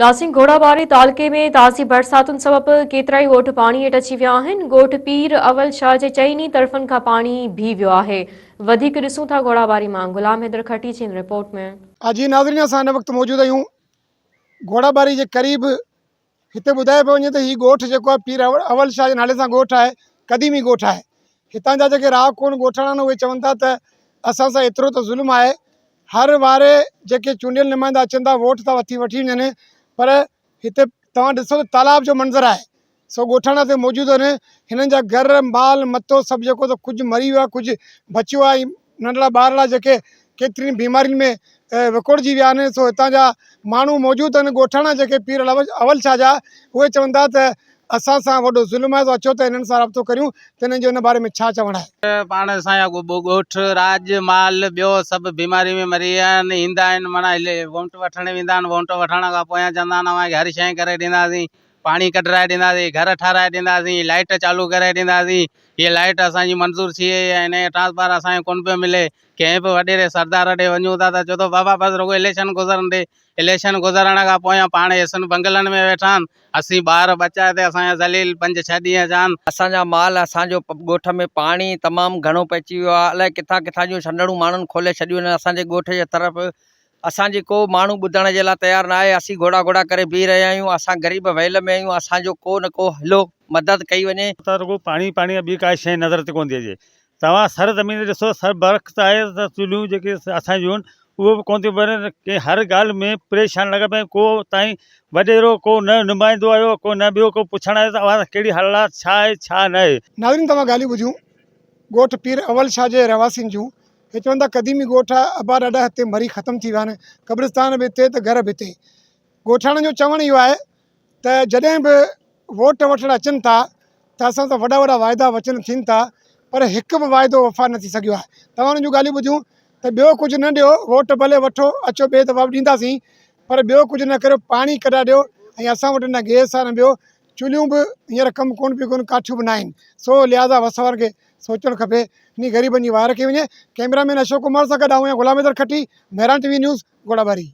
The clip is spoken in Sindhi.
ناسين گهوڙا واري تعلقي ۾ تازي برساتن سبب ڪيترائي ڳوٺ پاڻي هيٺ اچي ويا آهن، ڳوٺ پير اول شاهه جي چئني طرفن کان پاڻي بيهي ويو آهي، وڌيڪ ڏسون ٿا گهوڙا واري مان غلام حيدر کهٽي جي ان رپورٽ ۾. ها جي ناظرين اسان هن وقت موجود آهيون گهوڙا ٻاري جي قريب هتي ٻڌايو پيو وڃي ته هي ڳوٺ جيڪو آهي پير اول شاهه جي نالي سان ڳوٺ آهي قديمي ڳوٺ آهي هتان جا جيڪي رهاڪو آهن ڳوٺاڻا آهن اهي چون ٿا ته اسان سان ايترو ته ظلم آهي هر واري جيڪي چونڊيل نمائندا اچن ٿا ووٽ ٿا وٺي وڃن پر هتي توهان ڏسو ته تالاب جو منظر آهي سو ڳوٺاڻا هتي موجود آهن هنن جا گهر مال متو سڀ جيڪو سو ڪجهه مري ويو آهي ڪجهه بچيو آهي ۽ ننڍڙا ٻارڙا جيڪي ڪيترين بيمارين ۾ وڪوڙجي ويا آهن سو هتان جا ماڻهو موجود آهن ڳوٺاڻا جيڪي پير اول شاهه جا اهي چون ٿا ته اسان سان وڏو ظلم آهي سو اچو ته انهن سان رابطو ڪريون ته انهن جو ان باري ۾ ڇا چوڻ آهي. پاڻ اسان جا ڳوٺ، راڄ، مال ٻيو سڀ بيماري ۾ مري ويا آهن. ايندا آهن معنيٰ وونٽ وٺڻ ويندا آهن. وونٽ وٺڻ کان پويان چوندا آهن اوهان کي هر شيء ڪري ڏينداسين. پاڻي ڪڍرائي ڏينداسين، گهر ٺهرائي ڏينداسين، لائيٽ چالو ڪري ڏينداسين. هيء لائيٽ اسان جي منظور ٿي وئي آهي. انهيء ٽرانسفارمر اسان کي ڪونه پيو ملي. ڪنهن به وڏيري سردار ڏي وڃون ٿا ته چئي ٿو بابا بس رڳو اليڪشن گذرڻ ڏي. اليڪشن گذرڻ کان پويان پاڻ ايسين بنگلن ۾ ويٺا آهن، اسين ٻار ٻچا تي اسان جا ذليل پنج ڇهه ڏينهن جا آهن. اسان جا مال، اسان جو ڳوٺ ۾ پاڻي تمام گهڻو پئجي ويو آهي، الائي ڪٿان ڪٿان جون سنڊڻون ماڻهن کولي ڇڏيون آهن اسان جي ڳوٺ جي طرف، اسان جي ڪو ماڻهو ٻڌڻ جي لاء تيار ناهي، اسين گهوڙا گهوڙا ڪري بيهي رهيا آهيون، اسان غريب ويل ۾ آهيون، اسان جو ڪو نه ڪو هلو مدد ڪئي وڃي. اتان رڳو پاڻي ئي پاڻي آهي، ٻي ڪا شيء نظر تي ڪونه ٿي اچي، توهان سر زمين تي ڏسو سر برخت آهي ته چولهيون جيڪي اسان جون اهي به ڪونه ٿيون ٻرن ڪي هر ڳالهه ۾ پريشان لڳا پيا آهيون ڪو تائين وڏيرو ڪو نه نمائندو آيو ڪو نه ٻيو ڪو پڇڻ آيو ته اوهان سان ڪهڙي حالات ڇا آهي ڇا نه آهي. ناظرين توهان ڳالهيون ٻڌيون ڳوٺ پير اول شاهه جي رهواسين جون هي چون ٿا قديمي ڳوٺ آهي ابا ڏاڏا هتي مري ختم ٿي ويا آهن قبرستان به هتي ته گهر به هتي ڳوٺاڻن جو چوڻ اهو آهي ته جڏهن به ووٽ وٺڻ اچن ٿا ته اسان سان وڏا وڏا واعدا وچن ٿين ٿا پر هڪ به واعدو وفا نه ٿي سگهيو آهي توهان انهن جون ڳالهيون ٻڌيون ته ٻيو ڪجهه نه ڏيو ووٽ ڀلي وٺو اچو ٻئي دفعا به ڏينداسين پر ٻيو ڪجهه نه ڪريو پاڻي ڪڍا ڏيو ۽ اسان وٽ نه گيس آهي نه ٻيو چلهيون به هينئر ڪم ڪون پيون ڪن ڪاٺيون به نه آهن سو لهٰذا وس وارن کي سوچڻ کپي انهي غريبن جي واء رکي وڃي ڪئميرا مين اشوڪ ڪمار سان گڏ آئون آهيان غلام Haider Khatti Mehran T V news Ghorabari